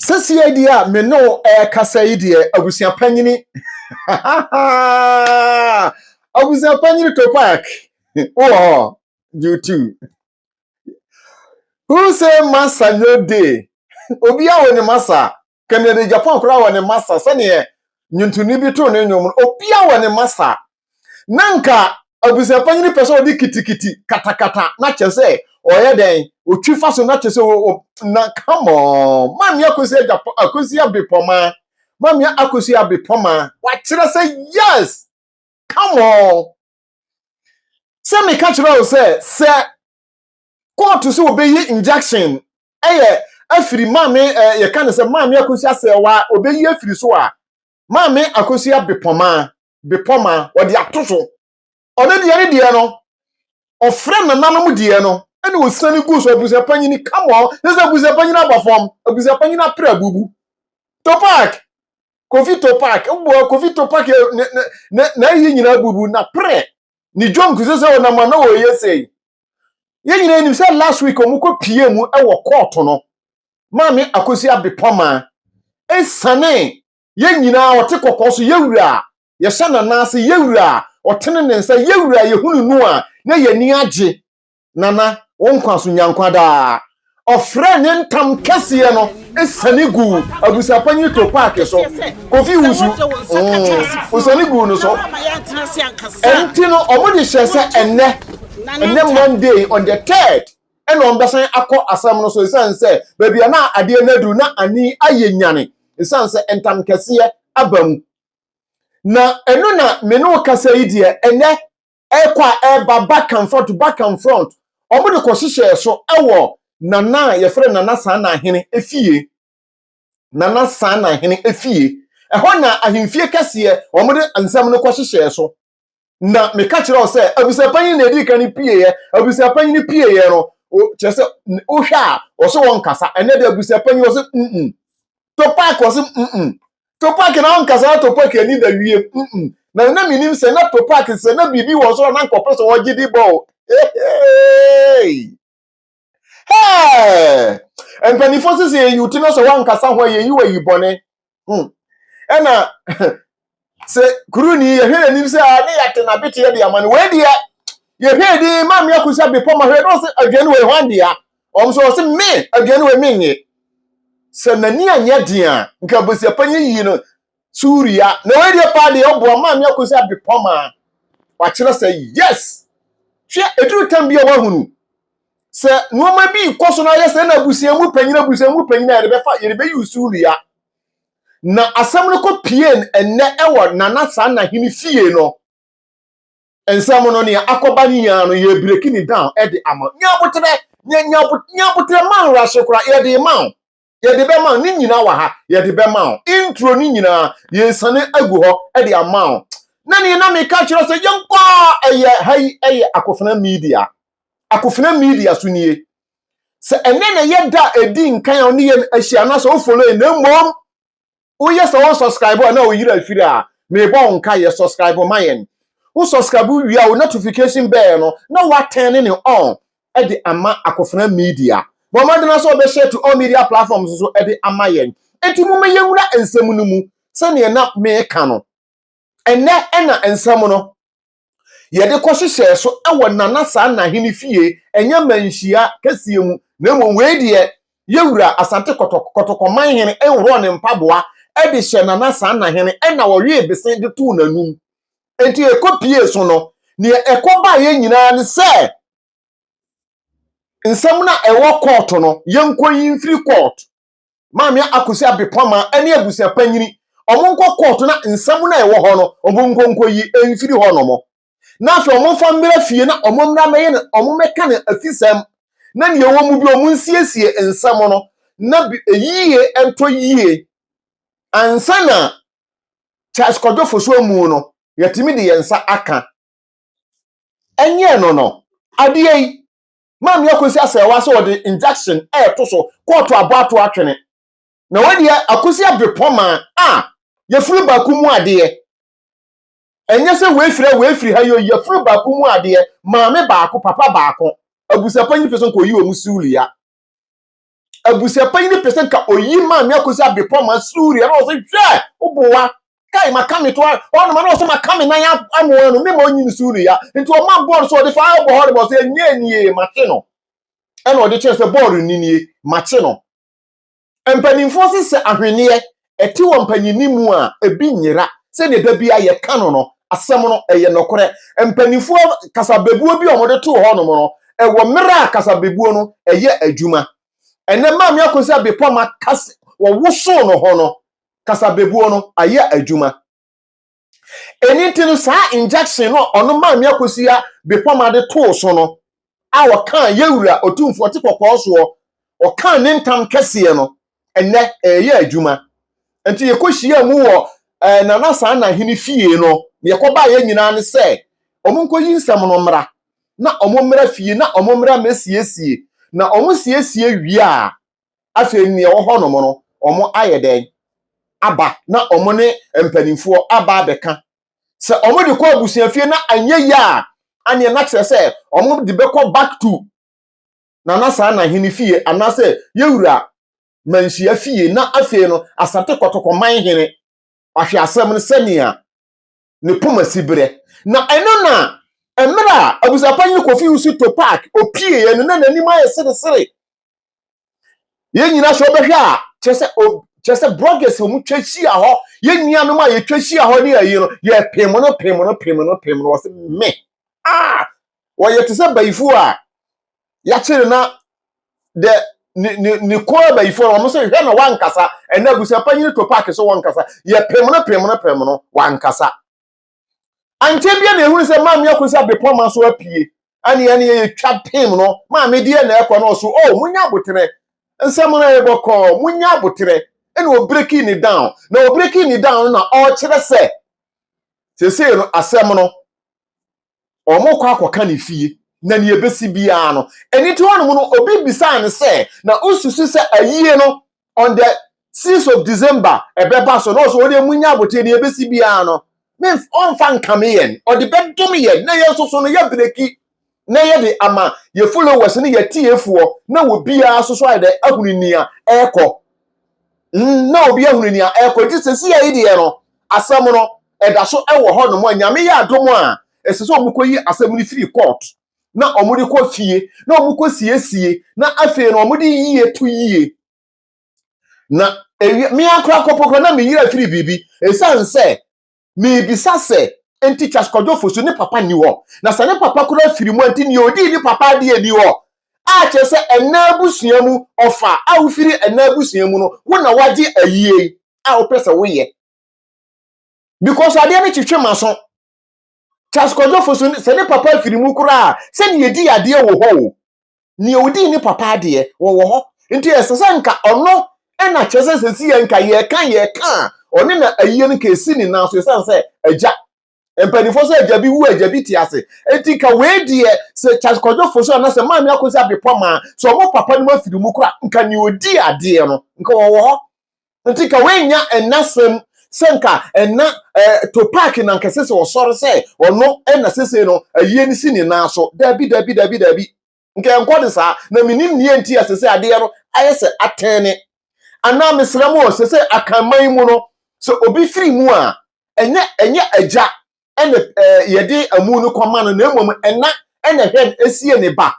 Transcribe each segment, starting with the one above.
Seesei deɛ a me ne wo rekasa yi deɛ, abusua panyini. abusua panyini Topac. Wowɔ hɔ. You too. Who say masa no day? Obiara wɔ ne masa. Kennedy Japan koraa wɔ ne masa. Sɛdeɛ nnwontoni bi too ne nnwom no, obiara wɔ ne masa. na anka abusua panyin pɛ sɛ ɔde kitikiti katakata na kyerɛ sɛ ɔyɛ dɛn otwi fa so na kyerɛ sɛ o na come on maame akosi agya akosi abepɔma maame akosi abepɔma wakyerɛ sɛ yes come on sɛ meka kyerɛ wo sɛ sɛ kóòtù sɛ obeyi injection ɛyɛ afiri maame ɛ yɛka ne sɛ maame akosi asɛwa obeyi afiri so a maame akosi abepɔma bepɔ maa ɔde ato so. Ɔno deɛ ne deɛ no, ɔfrɛ nananom deɛ no na ɔsiane gu so. Abusuapanyini, come on, ne sɛ abusuapanyini aba fam, abusuapanyini apere abubu. Topak, Kofi Topak, mboa Kofi Topak n'ayi nyinaa abubu, n'apere, ne dwom kuse sɛ ɔnam a na ɔreyɛ sei. Yɛn nyinaa nim sɛ last week ɔmo kɔ pie mu wɔ kɔɔto no, maame Akosua Bepɔmaa esiane Yɛn nyinaa, ɔte kɔkɔɔ so, yɛn wura a, yɛhyɛ n'anan ase, yɛn wura a, ɔtene ne nsa, yɛn wura a, yɛhunu no a, na yɛn ani agye. Nana, wo nkwa so, nya nkwa daa. Ɔfrɛɛ ne ntam kɛseɛ no siane guu abusuapanyin Topaake so. Kofi Wusu, mm, ɔsiane guu no so. Ɛnti no, wɔde hyɛɛ sɛ ɛnnɛ, ɛnnɛ Monday, on the third, ɛna ɔmbɛsan akɔ asɛm no so esiane sɛ baabi a na adeɛ no aduru na ani ayɛ nyane esiane sɛ ntamkɛseɛ aba mu. Na ɛno na me ne wo kasa yi deɛ ɛnɛ ɛrekɔ a ɛreba back and front back and front ɔmo de kɔhyehyɛɛ so ɛwɔ Nana a yɛfrɛ Nana Saana Ahene efie. Nana Saana Ahene efie. Ɛhɔ na ahemfie kɛseɛ ɔmo de nsɛm no kɔhyehyɛɛ so. na meka kyerɛ wo sɛ abusuapanyin na edi kan pieeɛ abusuapanyin pieeɛ no kyerɛ sɛ wohwɛ a ɔsɛ wɔn nkasa ɛnɛ de abusuapanyin ɔsɛ mm topak ɔsɛ mm topak na ɔnkasa na topak ani da wie mm na na menim sɛ na topak sɛ na biribi wɔ soro na nkɔpɛ sɛ ɔgye de bɔ o Hey! Mpanimfoɔ sisi yɛn yuti no sɛ wankasa ho a yɛn yiwa yi bɔne. Hmm. Ɛna sɛ kuru ni yɛhwɛ n'anim sɛ a ne yɛate n'abeteɛ de ama no wei deɛ yɛhwɛ din ma mmea kusa bepɔ ma hwɛ na ɔsɛ aduane wei hwan dea wɔn sɛ ɔsɛ me aduane wei menye sɛ n'ani anyɛ den a nka abusuapɔ nyɛ yie no Suria. Na wei deɛ paa deɛ ɔboa maa me akɔsi adwepɔ maa wakyerɛ sɛ yes hwɛ ɛduru tam bi a wahunu sɛ nneɛma bi kɔ so na ayɛ sɛ na abusua mu panyin abusua mu panyin a yɛde bɛfa yɛde bɛyi Suria na asɛm no kɔ pie ɛnnɛ ɛwɔ nana saa na hene fie no nsɛm no nea akɔba ne nyinaa no yɛ breki ne down ɛde ama nyabotrɛ nyabotrɛ manra so kora yɛde ma yɛde bɛma ne nyinaa wɔ ha yɛde bɛma wo intro ne nyinaa yɛsane agu hɔ de ama wo na ne na meka kyerɛ sɛ yɛnkɔ a ɛyɛ ha yi ɛyɛ akofena media akofena media so nie sɛ ɛnɛ na yɛda ɛdi nkan a ne yɛn ahyia na sɛ wo follow na mmom woyɛ sɛ wo subscribe a na wo yira firi a mebɔ wo nka yɛ subscribe ma yɛn wo subscribe wie a wo notification bell no na woatɛn ne on de ama akofena media bɔ mmɔden na sɛ wɔbɛhyɛ to all media platforms so de ama yɛn enti mo mɛyɛ nwura nsɛm no mu sɛdeɛ na meka no ɛnɛ ɛna nsɛm no yɛde kɔhyehyɛɛ so wɔ Nana saa Nahene fie, ɛnyɛ manhyia kɛseɛ mu, na mmom wei deɛ Yɛwura Asante Kɔtɔk, Kɔtɔkɔman hene nhorɔɔ ne mpaboa de hyɛ Nana saa Nahene ɛna ɔwee bese de too n'anum. Enti ɛkɔ piee so no, deɛ ɛkɔ baeɛ nyinaa ne sɛ nsɛm no a ɛwɔ kɔɔto no, yɛnkɔ yi mfiri kɔɔto. Maame Akosi Abipama ne abusua panyini, wɔnkɔ kɔɔto na nsɛm no a ɛwɔ hɔ no, wɔnkɔ nkɔyi mfiri hɔnom. Na afei wɔmfa mmra fie na wɔmmra mmɛyɛ no, wɔmmɛka no afisɛm, na nea ɛwɔ mu biara wɔnsiesie nsɛm no na yie ntɔ yie. Ansa na Charles Kwadwo Fosu amu no, yɛatumi de yɛn nsa aka. Ɛnyɛɛ no no, adeɛ yi. Maame Akosi Asɛɛwa sɛ ɔde injection ɛɛto so kɔɔto abɔ ato atwene. Na wei deɛ Akosi Abirepɔn maa a yafunu baako mu adeɛ. Ɛnyɛ sɛ wei firi ha wei firi ha yoi yafunu baako mu adeɛ maame baako papa baako. Abusuapanyin pɛ sɛ ɔkɔyi wɔn siwulia. abusuapanyin no pɛ sɛ nka oyi maa me akosi abepɔ ma suri ɛna ɔsɛ hwɛ wobowa kai maka me to a ɔnoma na ɔsɛ maka me nan amoa no mema ɔnyi ne so no ya nti ɔma bɔɔl so ɔde fa bɔ hɔ de bɔ sɛ ɛnyɛ nie mate no ɛna ɔde kyerɛ sɛ bɔɔl nni nie mate no mpanimfoɔ se sɛ ahweneɛ ɛte wɔ mpanyinni mu a, ebi nyera. Sɛnea da biara yɛka no no, asɛm no, ɛyɛ nokorɛ. Mpanyinfoɔ kasabebuo bi a wɔde too hɔ nom no, ɛwɔ mmerɛ a kasabebuo no ɛyɛ adwuma. Ɛnnɛ Maame Akonse Adepoama ka sɛ wɔwosoo no ho no, kasabebuo no ayɛ adwuma. ɛni nti no saa injection no ɔno maame akosua bepɔma de too so no a ɔkaa yɛwura ɔtumfoɔ te kɔkɔɔ soɔ ɔkaa ne ntam kɛseɛ no ɛnɛ ɛyɛ adwuma nti yɛkɔhyia mu wɔ eh, nana saa na hene fie no na yɛkɔbaa yɛ nyinaa ne sɛ ɔmo nkɔyi nsɛm no mmra na ɔmo mmra fie na ɔmo mmra mmɛsiesie na ɔmo siesie wie a Afei nea ɛwɔ hɔnom no, wɔayɛ dɛn aba na wɔn ne mpanimfoɔ aba abɛka. Sɛ wɔde kɔ abusuafie na anyɛ yie a, aneɛ na kyerɛ sɛ wɔde bɛkɔ back to Nana Saa Nahene fie anaasɛ Yɛwura Manhyia fie na afei no Asante Kɔtɔkɔ Manhene wahwɛ asɛm no sɛnea ne poma siberɛ. Na ɛno na mmerɛ a abusuapanyin Kofi Usito Park ɔpieeɛ no na n'anim ayɛ seresere. Yɛn nyinaa sɛ wobɛhwɛ a kyerɛ sɛ kyerɛ sɛ bloggers a wɔtwa hyia hɔ yɛn nuanom a yɛtwa hyia hɔ ne ayi no yɛpem no pem no pem no pem no wɔsɛ me ah wɔyɛ te sɛ bayifoɔ a yɛakyere na dɛ ne ne ne kɔn abayifo no wɔn sɛ hwɛ na wankasa ɛnna abusuapanyin to paaki so wɔnkasa yɛpem no pem no pem no wankasa ankyɛ bia na ehunu sɛ maame akɔ sɛ abepɔma so apue ɛne ɛne yɛtwa pem no maame deɛ na ɛkɔ na ɔso o oh, munya aboterɛ nsɛm no ɛbɔ kɔɔ munya aboterɛ ɛna ɔbreki ne down na ɔbreki ne down na ɔkyerɛ sɛ sesei no asɛm no wɔkɔ akɔka ne fie na nea ebesi biara no ɛne ti hɔnom no obi bisaa no sɛ na osusu sɛ ayie no on the six of december ɛbɛba so na ɔsɛ ɔde emu nya abote nea ebesi biara no ne ɔnfa nkame yɛn ɔde bɛdom yɛn na yɛn nso so no yɛ breki na yɛde ama yɛ followers ne yɛ tiefoɔ na wɔ biara nso so ayɛ dɛ ahunu nea ɛrekɔ na obi ahunu nea ɛrekɔ nti sɛsia yi deɛ no asɛm no ɛda so wɔ hɔ nom a nyame yɛ adom a ɛsɛ sɛ ɔmo kɔyi asɛm no firi court na ɔmo de kɔ fie na ɔmo kɔ siesie na afei no ɔmo de yie to yie na ɛwie me ankora kɔpɔ kora na me yira firi biribi ɛsiane sɛ Merebisa sɛ, Enti Charles Kwadwo Ofosu ne papa nni hɔ? Na sɛ ne papa koraa firi mu a, nti nea odii ne papa adeɛ nni hɔ? A kyerɛ sɛ ɛnna abusua mu, ɔfa a wofiri ɛnna abusua mu no, wo na woagye ayie a wopɛ sɛ woyɛ. Because adeɛ no twetwe m'aso. Charles Kwadwo Ofosu, sɛ ne papa firi mu koraa a, sɛnea edii adeɛ wɔ hɔ o. nea odii ne papa adeɛ wɔwɔ hɔ nti ɛsɛ sɛ nka ɔno ɛna kyerɛ sɛ sɛsi yɛ nka yɛka yɛka a ɔne na ayie no nka ɛsi ne nan so ɛsiane sɛ agya mpanimfoɔ sɛ agya bi wu agya bi te ase nti ka wei deɛ sɛ Charles Kwadwo Fosu anaa sɛ Maame Akosi Abepɔ maa sɛ ɔmo papa no mu afiri mu kora nka nea odi adeɛ no nka wɔwɔ hɔ Nti ka w'anya ɛna sɛm sɛ nka ɛna eh, Topac na nkɛse sɛ ɔsɔre sɛ ɔno ɛna sesei no ayie no si ne nan so. Dabi, dabi, dabi, dabi. Nka ɛnkɔ ne saa. Na menim neɛ nti a sesei adeɛ no ayɛ sɛ atɛne. Anaa mesrɛ mo o, sesei akanman mu no, sɛ obi firi mu a, ɛnyɛ ɛnyɛ agya ɛna eh, yɛde amu no kɔma no, na mmom ɛna ɛna ɛhwɛ no sie ne ba.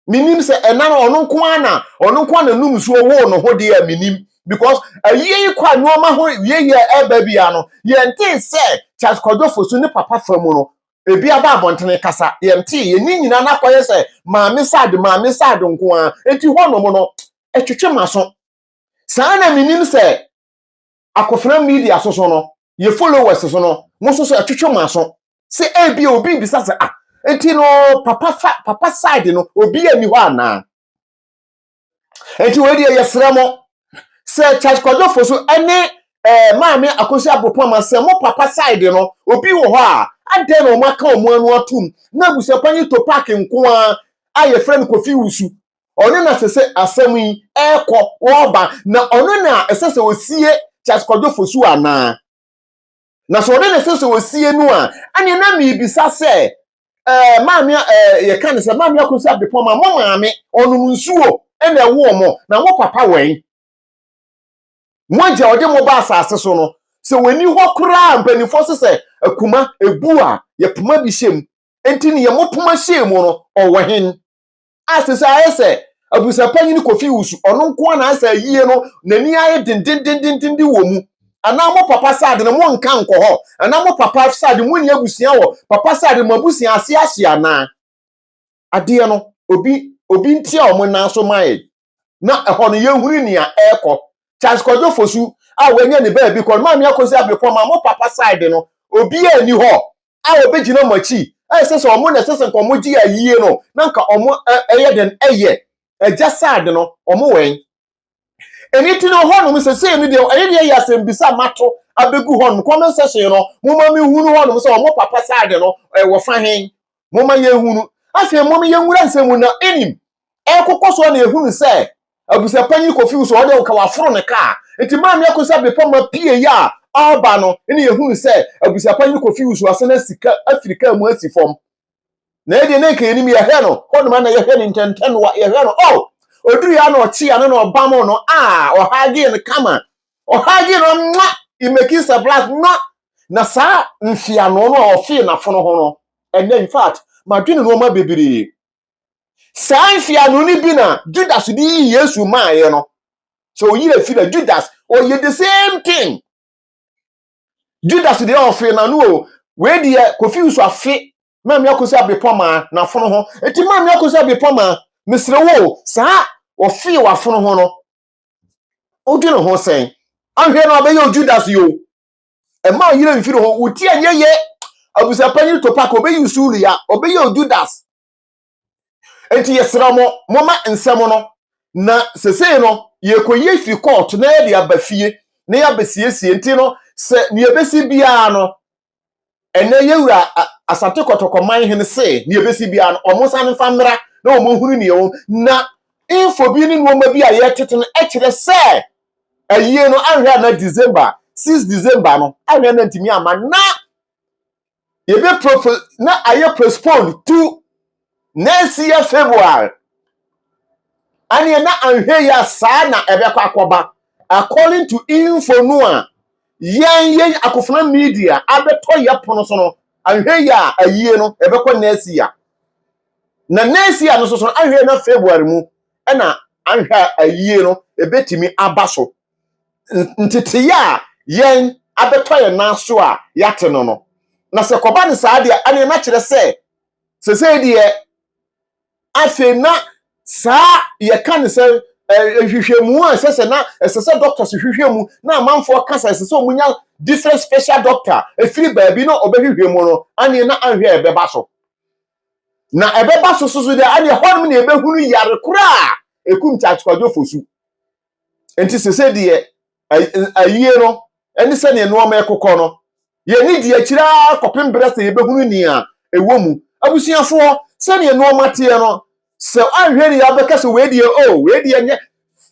menim sɛ ɛna no ɔno nko ara na ɔno nko ara na num nsuo woo ne ho deɛ a menim because ayie yi kɔ a nneɛma ho wieyɛ ɛba bia no yɛntee sɛ Charles Kwadwo Fosu ne papa fa mu no ebi aba abɔntene kasa yɛntee yɛn ne nyinaa no akɔyɛ sɛ maame sad maame sad nko ara enti hɔnom no ɛtwetwe m'aso saa na menim sɛ akofena media so so no, yɛ followers so no, mo nso so ɛtwetwe mo aso. Sɛ ebia obi bisa sɛ, ah, nti no papa fa papa side no obi ani hɔ anaa? Nti wei deɛ yɛsrɛ mo sɛ Charles Kwadwofo so ɛne ɛɛ maame akosi abopama sɛ mo papa side no obi wɔ hɔ a adɛn na wɔn aka wɔn ano atum na abusuakwan yi to paaki nko ara a yɛfrɛ no kofi wusu ɔno na ɛsɛ sɛ asɛm yi ɛrekɔ ɔreba na ɔno na ɛsɛ sɛ ɔsie Charles Kwadwo Fosu anaa? Na sɛ ɔno na ɛsɛ sɛ ɔsie no a, ɛneɛ na merebisa sɛ ɛɛ maame ɛɛ yɛka ne sɛ maame Akosi Abdepɔn ma mo maame ɔnom nsuo ɛna ɛwoo mo na mo papa wɛn? Mo agya ɔde mo ba asase so no sɛ wɔni hɔ koraa mpanimfoɔ se sɛ akuma ɛbu a yɛpoma bi hyɛ mu, ɛnti neɛ mopoma hyɛɛ mu no ɔwɔ hen? Ase sɛ ayɛ sɛ abusuapanyin Kofi Owusu, ɔno nko ara na ayɛ sɛ ayie no n'ani ayɛ dendendenden wɔ mu. Anaa mo papa side no mo nka nkɔ hɔ? Anaa mo papa side mo nni abusua wɔ papa side no mo abusua ase ahye anaa? Adeɛ no obi obi ntia wɔn nan so mma yɛn. na ɛhɔ no yɛhunu nea ɛrekɔ Charles Kwadwo Fosu a wanya ne baabi kɔ no Maame Akosi Abepɔn ma mo papa side no obiara nni hɔ a ɔbɛgyina mo akyi ɛsɛ sɛ ɔmo na ɛsɛ sɛ nka ɔmo gye ayie no na nka ɔmo ɛyɛ dɛn ɛyɛ agya side no ɔmo wɛn ɛni ti no hɔnom sɛsei no deɛ ɛyɛ deɛ ɛyɛ asɛmbisa mato abɛgu hɔnom comment section no mo ma me hunu hɔnom sɛ ɔmo papa side no ɛwɔ fa hen Momma yɛnhu no. Afei mom yɛnwura nsɛm mu na ɛnim. Ɛrekokɔ so a na ɛhunu sɛ abusuapanyin kɔfiw so, ɔde woka waforo ne kaa. Nti maame akɔsa bepɔ ma pie yɛ a ɔreba no na yɛhunu sɛ abusuapanyin kɔfiw so asan asi ka afiri kaa mu asi fam. Na ɛdeɛ na nka yɛnim yɛhwɛ no hɔ nom a na yɛhwɛ no ntɛntɛnoa yɛhwɛ no oh ɔduru yɛ a na ɔkye ano na ɔbam no ah ɔhagee no kama Ɔhagye no mwa imaking sablas mwa na saa mfiano no a ɔfee n'afono ho no ɛnɛ in fact madwene nneɛma bebree saa mfiano no bi na Judas de yi Yesu maaeɛ no sɛ ɔyere afi na Judas ɔyɛ the same thing Judas deɛ ɔfee n'ano o wei deɛ kofi nso afe maame akosi abepɔ maa n'afono ho eti maame akosi abepɔ maa mesrɛ wo saa ɔfee w'afono ho no Odwene ho sɛn? Ahwɛ no abɛyɛ ojuda so yo. Ɛma ɔyere mfiri ho. Wotie ɛnyɛ yɛ. Abusuapanyin Topako ɔbɛyi usuulu ya. Ɔbɛyɛ ojudas. Nti yɛsrɛ mo, moma nsɛm no. Na sesei no, yɛrekɔyi afiri kɔɔto na yɛde aba fie na yɛabɛsiesie. Nti no, sɛ nea ɛbɛsi biara no, ɛnnɛ yɛn wura Asante Kɔtɔkɔ man hene se nea ebesi biara no wɔn nsa no mfa mmra na wɔn nhunu nea ɛwɔ mu na info bi ne nneɛma bi a yɛretete no kyerɛ sɛ ayie no anhwɛ na December six December no anhwɛ na ntumi ama na yɛbɛ na ayɛ postpone to Next year February ɛneɛ na anhwɛ yi a saa na ɛbɛkɔ akɔba according to info no a yɛn yɛn Akofena media abɛtɔ yɛ pono so no anhwɛ yi a ayie no ɛbɛkɔ next year na next year no soso anhwɛ na February mu ɛna anhwɛ ayie no ɛbɛtumi aba so nteteyɛ a yɛn abɛtɔ yɛn nan so a yɛate no no na sɛ kɔba no saa deɛ ɛneɛ na kyerɛ sɛ Sesei deɛ, afei na saa yɛka ne sɛ nhwehwɛmu a ɛsɛ sɛ na ɛsɛ sɛ doctors hwehwɛ mu na amanfoɔ ka sɛ ɛsɛ sɛ wɔnya different special doctor ɛfiri baabi na ɔbɛhwehwɛ mu no aneɛ na anhwɛ ɛbɛba so na ɛbɛba so so so deɛ aneɛ hɔnom na ɛbɛhunu yare koraa ɛkum kyakyekwadwofo su Enti sese deɛ ayie no ne sɛdeɛ nnoɔma ɛkokɔ no, yɛni di akyiri ara kɔpem berɛ sɛ yɛbɛhunu nea ɛwɔ mu. Abusuafoɔ, sɛdeɛ nnoɔma teɛ no, sɛ anhwɛ ni abɛka sɛ wei deɛ o, wei deɛ nyɛ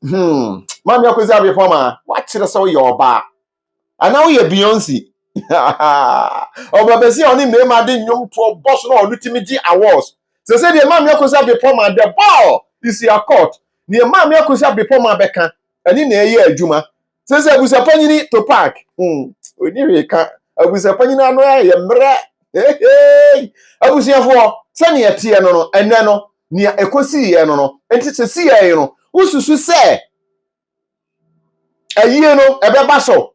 hmm, Maame Akwasi Abiepɔn maa wakyerɛ sɛ woyɛ ɔbaa. Anaa woyɛ Beyonce. Ɔbabesi a ɔne mmarima de nnwom toɔ bɔ so na ɔno tumi gye awards. Sɛ sɛ deɛ maame akosa bepɔ ma the ball is your court. Neɛ maame akosa bepɔ ma bɛka ɛne na ɛyɛ adwuma. Sɛ sɛ abusapanyini to park. Hmm, ɔni hwee ka. Abusapanyini ano ayɛ mmerɛ. Heheei. Abusuafoɔ, sɛnea ɛteɛ no no, ɛnɛ no, nea ɛkɔsiiɛ no no, nti sɛ siiɛ no, wosusu sɛ ayie no ɛbɛba so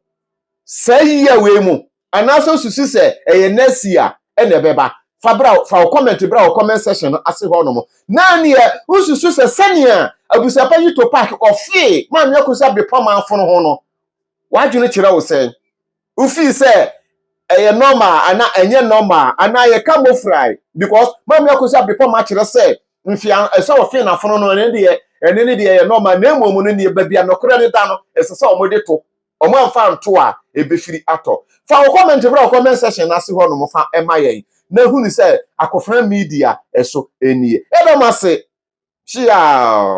saa yia wei mu anaasɛ susu sɛ ɛyɛ next year ɛna ɛbɛba fa bra fa wo comment bra wo comment section no ase hɔ nom na neɛ wosusu sɛ sɛnea abusuapa yi to park ɔfee maame akusa bepɔ manfo no ho no w'adwene kyerɛ wo sɛn Wofii sɛ ɛyɛ normal anaa ɛnyɛ normal anaa yɛka mofrae because Maame Akosi Abrepɔn akyerɛ sɛ mfea ɛsɛ ɔfe na fono no ɛne deɛ ɛne ne deɛ ɛyɛ normal na mmom no neɛ baabi a nokorɛ no da no ɛsɛ sɛ wɔde to wɔn amfa anto a ɛbɛfiri atɔ. Fa wo comment bra wo comment section no ase hɔ nom fa ma yɛn na hunu sɛ Akofena Media so nie. Yɛda mo ase hyeaa.